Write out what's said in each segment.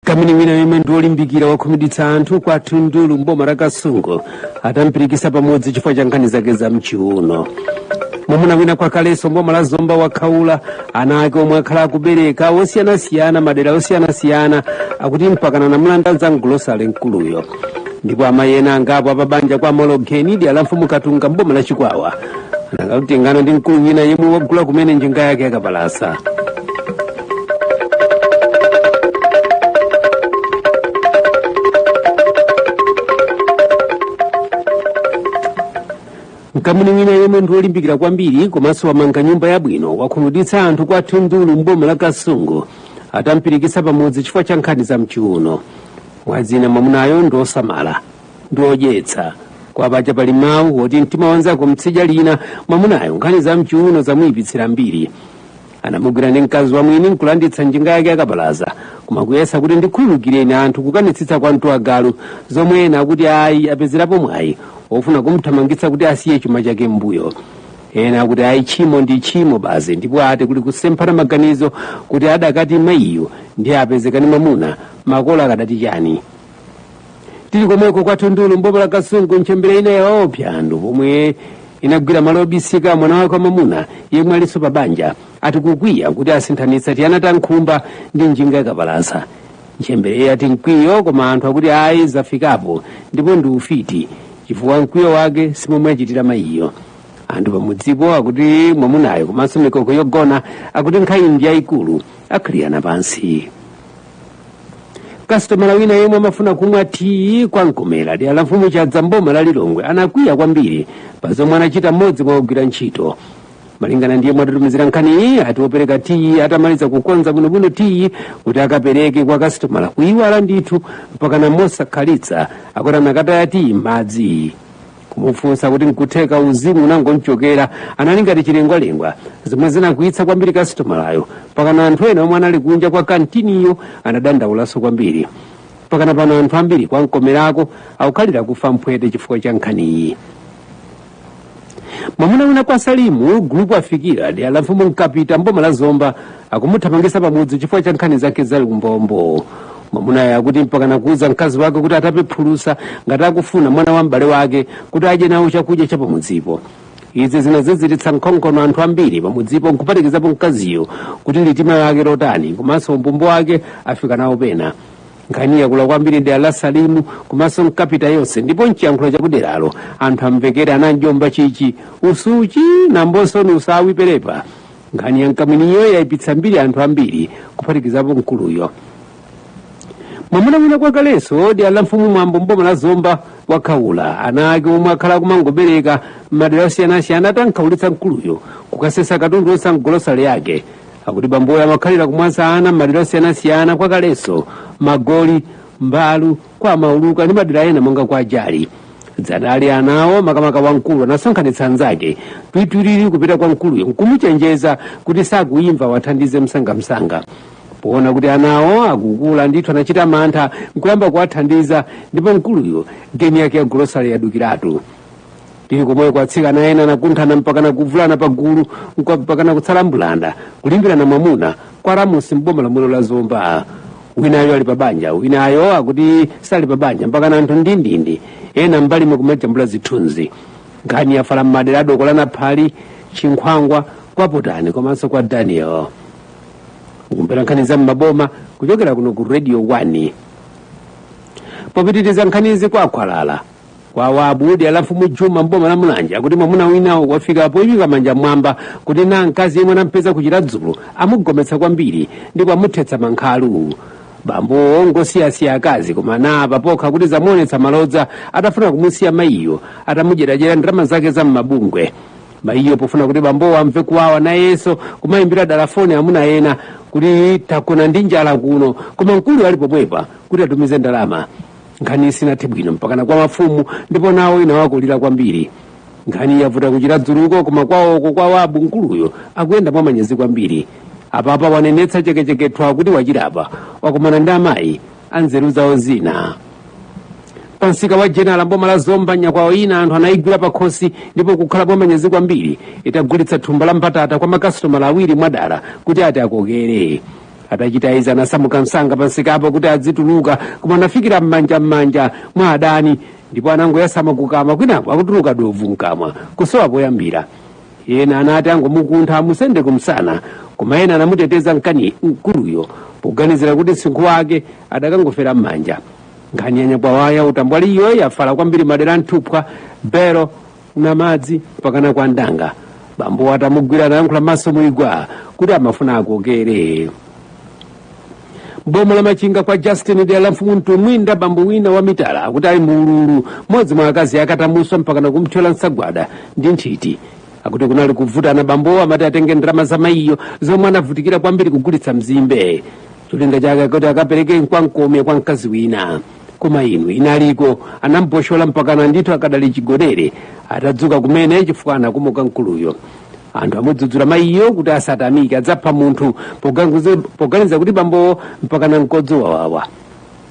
mkamwini wina yemwe ndi olimbikira wakhumudwitsa anthu kwa thundulu mboma la kasungu atampirikisa pamudzi chifukwa cha nkhani zake za mchiuno mwamuna wina kwa kaleso mboma la zomba wakhaula ana ake omwe akhala akubereka osiyanasiyana madera osiyanasiyana akuti mpakana anamulanda za mgulosale mkuluyo ndipo amayi ena angapo apabanja kwa mologeni dera la mfumu katunga mboma la chikwawa anangotengana ndi mkulu wina yemwe wagula kumene njinga yake yakapalasa mkamwini wina yemwe ndi wolimbikira kwambiri komanso wamanga nyumba yabwino wakhumudwitsa anthu kwa thundulu m'boma la kasungu atampirikitsa pamudzi chifukwa cha nkhani za mchiuno mwazina mwamunayo ndi osamala ndi odyetsa koma paja pali mawu oti mtima wanzako mtsidya lina mwamunayo nkhani za mchiuno zamuyipitsira mbiri anamugwira ndi mkazi wa mwini nkulanditsa njinga yake yakabaza koma kuyesa kuti ndikhululukireni anthu kukanitsitsa kwa mtu wa galu zomwe ena akuti ayi apezerapo mwayi ofuna kumthamangitsa kuti asiye chuma chake m'mbuyo ena akuti ayi tchimo ndi tchimo basi ndipo ati kuli kusemphana maganizo kuti akadati mayiyo ndiye apezekani mamuna makolo akadati chani tili komweko kwa thundulu mboma la kasungu ntchembere ina yaopsa anthu pomwe inagwira malo obisika mwana wake wamamuna yemwe alinso pa banja ati kukwiya kuti asinthanitsa tiyana ta nkhumba ndi njinga yakapalasa ntchembereyi ati mkwiyo koma anthu akuti ayi zafikapo ndipo ndi ufiti chifukwa mkwiyo wake simomwe achitira mayiyo anthu pamudzipo akuti mwamunayo komanso mikoko yogona akuti nkhani ndi yayikulu akhalirana pansi kasitomala wina yemwe amafuna kumwa tiyi kwa mkomera dera la mfumu chadza mboma la lilongwe anakwiya kwambiri pa zomwe anachita mmodzi mwa ogwira ntchito malingana ndi yemwe atitumizira nkhaniyi ati wopereka tiyi atamaliza kukonza bwinobwino tiyi kuti akapereke kwa kasitomala kuyiwala ndithu mpakana mosakhalitsa akuti anakataya tiyi mmadzi kumufunsa kuti nkutheka uzimu unangomchokera anali ngati chilengwalengwa zomwe zinakwiyitsa kwambiri kasitomalayo pakana anthu ena omwe anali kunja kwa kantiniyo anadandaulanso kwambiri pakana pano anthu ambiri kwa mkomerako akukhalira kufa mphwete chifukwa cha nkhaniyi mwamuna wina kwa salimu gulupu afikira dera la mfumu mkapita mboma la zomba akumuthamangisa pamudzi chifukwa cha nkhani zake za umbombo mwamunayo akuti mpakana kuuza mkazi wake kuti atape phulusa ngati akufuna mwana wa m'bale wake kuti adye nawo chakudya cha pamudzipo izi zinaziziritsa nkhongono anthu ambiri pamudzipo nkupatikizapo mkaziyo kuti litima lake lotani komanso umbombo wake afika nawo pena nkhani yakula kwambiri dera la salimu komanso mkapita yonse ndipo mchiyankhulo chakuderalo anthu amvekere ananjomba chichi usuchi nambosoni usawi perepa nkhani ya mkamwiniyo yayipitsa mbiri anthu ambiri kuphatikizapo mkuluyo mwamuna wina kwa kaleso dera la mfumu mwambo mboma la zomba wakhaula ana ake omwe akhala akumangobereka m'madera osiyanasiyana atamkhaulitsa mkuluyo kukasesa katundu onse a m'golosale yake akuti bamboyo amakhalira kumwaza ana m'madera osiyanasiyana kwa kaleso magoli mbalu kwa mauluka ndi madera ena monga kwa jali dzanali anawo makamaka wamkulu anasonkhanitsa anzake twitwiriri kupita kwa mkuluyo nkumuchenjeza kuti sakuyimva awathandize msangamsanga poona kuti anawo akukula ndithu anachita mantha nkuyamba kuwathandiza ndipo mkuluyo geni yake ya golosale yadukiratu tili komweko atsikana ena anakunthana mpakana kuvulana pagulu mpakana kutsala mbulanda kulimbirana mwamuna kwa ramusi mboma lomwelo la zomba winayo ali pabanja winayo akuti sali pabanja mpakana anthu ndindindi ena m'mbalimu kumajambula zithunzi nkhani yafala mmadera a dokola naphali chinkhwangwa kwa potani komanso kwa daniel mukumvera nkhani za mmaboma kuchokera kuno ku radio 1 popitiriza nkhanizi kwa khwalala kwa wabu dera la mfumu juma mboma la mulanje akuti mwamuna wina wafika poyika manja mwamba kuti na mkazi yemwe anampeza ku chiradzulu amugometsa kwambiri ndipo amuthetsa mankhalu bambowo ngosiyasiya akazi koma apa pokha akuti zamuonetsa malodza atafuna kumusiya mayiyo atamudyeradyera ndalama zake za m'mabungwe mayiyo pofuna kuti bambowo amve kuwawa nayenso kumayimbira dala foni amuna ena kuti tagona ndi njala kuno koma mkuluyo ali pomwepa kuti atumize ndalama nkhani sinathe bwino mpakana kwa mafumu ndipo nawo inawakulira kwambiri nkhani yavuta ku chiradzuluko koma kwawoko kwa wabu mkuluyo akuyenda mwa manyazi kwambiri apapa wanenetsa chekechekethwa kuti wachilapa wakumana ndi amayi anzeru zawo zina pansika wa jenala mboma la zomba nyakwawa ina anthu anayigwira pakhosi ndipo ikukhala mwa manyazi kwambiri itagulitsa thumba la mbatata kwa makasitomala awiri mwadala kuti ati akokere atachita izi anasamuka msanga pansikapo kuti adzituluka koma anafikira m'manja m'manja mwa adani ndipo anangoyasama kukamwa kwinaku akutuluka dovu mkamwa kusowa poyambira ena anati angomukuntha amusende kumsana koma ena anamuteteza mkani mkuluyo poganizira kuti msinkhu wake adakangofera m'manja nkhani ya nyakwawa ya utambwaliyo yafala kwambiri madera a nthupwa bero namadzi mpakana kwa ndanga bambowo atamugwira anayankhula maso muli gwa kuti amafuna akokere mboma la machinga kwa justin dera la mfumu mtumbwinda bambo wina wa mitala akuti ali mu ululu mmodzi mwa akazi ake atamuswa mpakana kumthyola nsagwada ndi nthiti akuti kunali kuvutana bambowo amati atenge ndalama za mayiyo zomwe anavutikira kwambiri kugulitsa mzimbe cholinga chake kuti akapereke mkwankomya kwa mkazi wina koma inu inaliko anamboshola mpakana ndithu akadali chigonere atadzuka kumene chifukwa anakomoka mkuluyo anthu amudzudzula mayiyo kuti asatamike adzapha munthu poganiza kuti bambowo mpakana mkodzo wawawa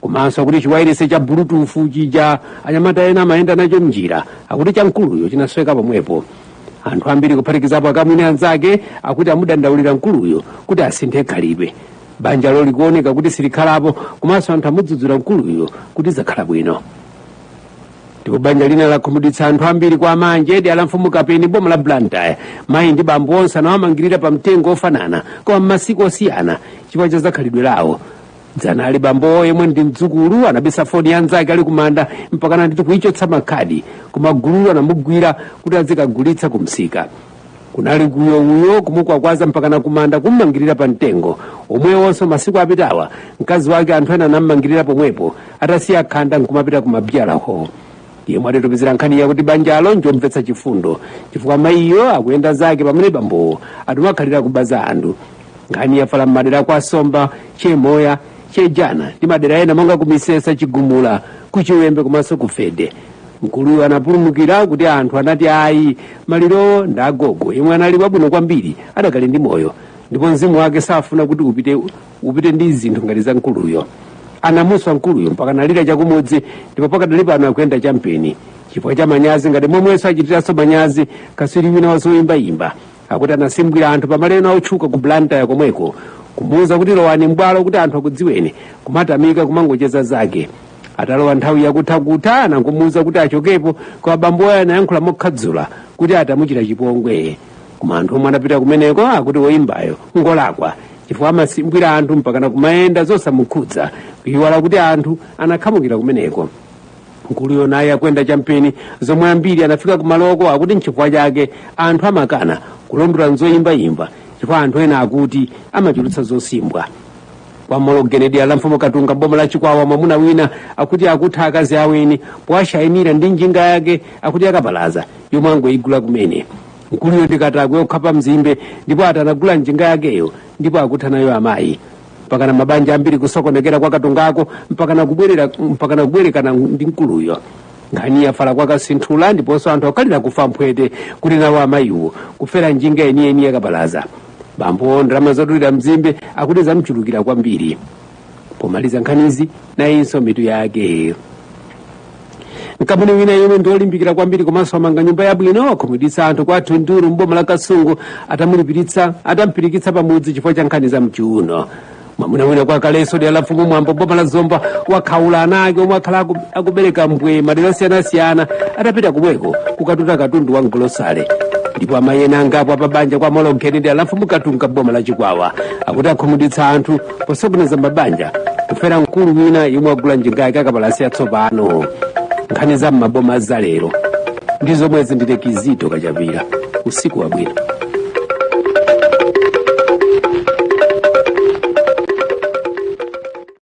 komanso akuti chiwairese cha bulutufu chija anyamata ena amayenda nacho mnjira akuti cha mkuluyo chinasweka pomwepo anthu ambiri kuphatikizapo akamwini anzake akuti amudandaulira mkuluyo kuti asinthe khalidwe banjalo likuoneka kuti silikhalapo komanso anthu amudzudzula mkuluyo kuti zakhala bwino ndipo banja lina lakhumudwitsa anthu ambiri kwa manje dera la mfumu kapeni boma la blantyre mayi ndi bambo onse anawamangirira pa mtengo ofanana koma m'masiku osiyana chifukwa cha zakhalidwe lawo dzana ali bambowo yemwe ndi mdzukulu anabisa foni ya nzake ali kumanda mpakana ndithu kuichotsa makhadi koma gululo anamugwira kuti azikagulitsa kumsika kunali uyo uyo kumukwakwaza mpakana kumanda kummangirira pa mtengo omwewonso masiku apitawa mkazi wake anthu ena anammangirira pomwepo atasiya khanda nkumapita kumabyala ho yemwe atitumizira nkhaniyi akuti banjalo njomvetsa chifundo chifukwa mayiyo akuyenda zake pamene bambowo ati amakhalira kuba za anthu nkhani yafala m'madera kwa somba chemoya chejana ndi madera ena monga kumisesa chigumula kuchiwembe komanso kufede mkuluyo anapulumukira kuti anthu anati ayi malirowo ndi agogo yemwe anali wabwino kwambiri adakali ndi moyo ndipo mzimu wake safuna kuti upite ndi zinthu ngati za mkuluyo anamuswa mkuluyo mpaka analira chakumudzi ndipo pakadali pano akuyenda champeni chifukwa cha manyazi ngati momwenso achitiranso manyazi katswiri wina wazoyimbayimba akuti anasimbwira anthu pamalo ena otchuka ku blantyre komweko kumuwuza kuti lowani m'bwalo kuti anthu akudziweni kumatamika kumangocheza zake atalowa nthawi yakuthakutha anangomuwuza kuti achokepo koma bamboyo anayankhula mokhadzula kuti ati amuchita chipongwe koma anthu omwe anapita kumeneko akuti woyimbayo ngolakwa chifukwa amasimbwira anthu mpakana kumayenda zosamukhudza kuyiwala kuti anthu anakhamukira kumeneko mkuluyo naye akuyenda champeni zomwe ambiri anafika kumaloko akuti nchifukwa chake anthu amakana kulondola zoyimbayimba chifukwa anthu ena akuti amachulutsa zosimbwa kwa mologeni dera la mfumu katunga boma la chikwawa mwamuna wina akuti akutha akazi aweni powashayinira ndi njinga yake akuti yakapalasa yomwe angoyigula kumene mkuluyo ndi katakwe wokhapa mzimbe ndipo ati anagula njinga yakeyo ndipo akutha nayo amayi mpakana mabanja ambiri kusokonekera kwa katungako mpakana kubwerekana ndi mkuluyo nkhani yafala kwa kasinthula ndiponso anthu akhalira kufa mphwete kuti nawo amayiwo kufera njinga yeniyeni yakapalasa bambowo ndalama zodulira mzimbe akuti zamchulukira kwambiri pomaliza nkhanizi nayinso mitu yake mkamwini wina yemwe ndi olimbikira kwambiri komanso amanga nyumba yabwino akhumudwitsa anthu kwa thunduru mboma la kasungu atamulipiritsa atamupirikitsa pamudzi chifukwa cha nkhani za mchiuno mwamuna wina kwa kaleso dera la mfumu mwambo boma la zomba wakhaula ana ake omwe akhala akubereka mbwee madera osiyanasiyana atapita kumweko kukatuta katundu wa mgolosale ndipo amayi ena angapo apabanja kwa molonkheni dera la mfumu katunga boma la chikwawa akuti akhumudwitsa anthu posokoneza mabanja kufera mkulu wina yemwe wagula njinga ya kabaza yatsopano nkhani za m'maboma zalero ndi zomwezi ndithe kizito kachapira usiku wabwino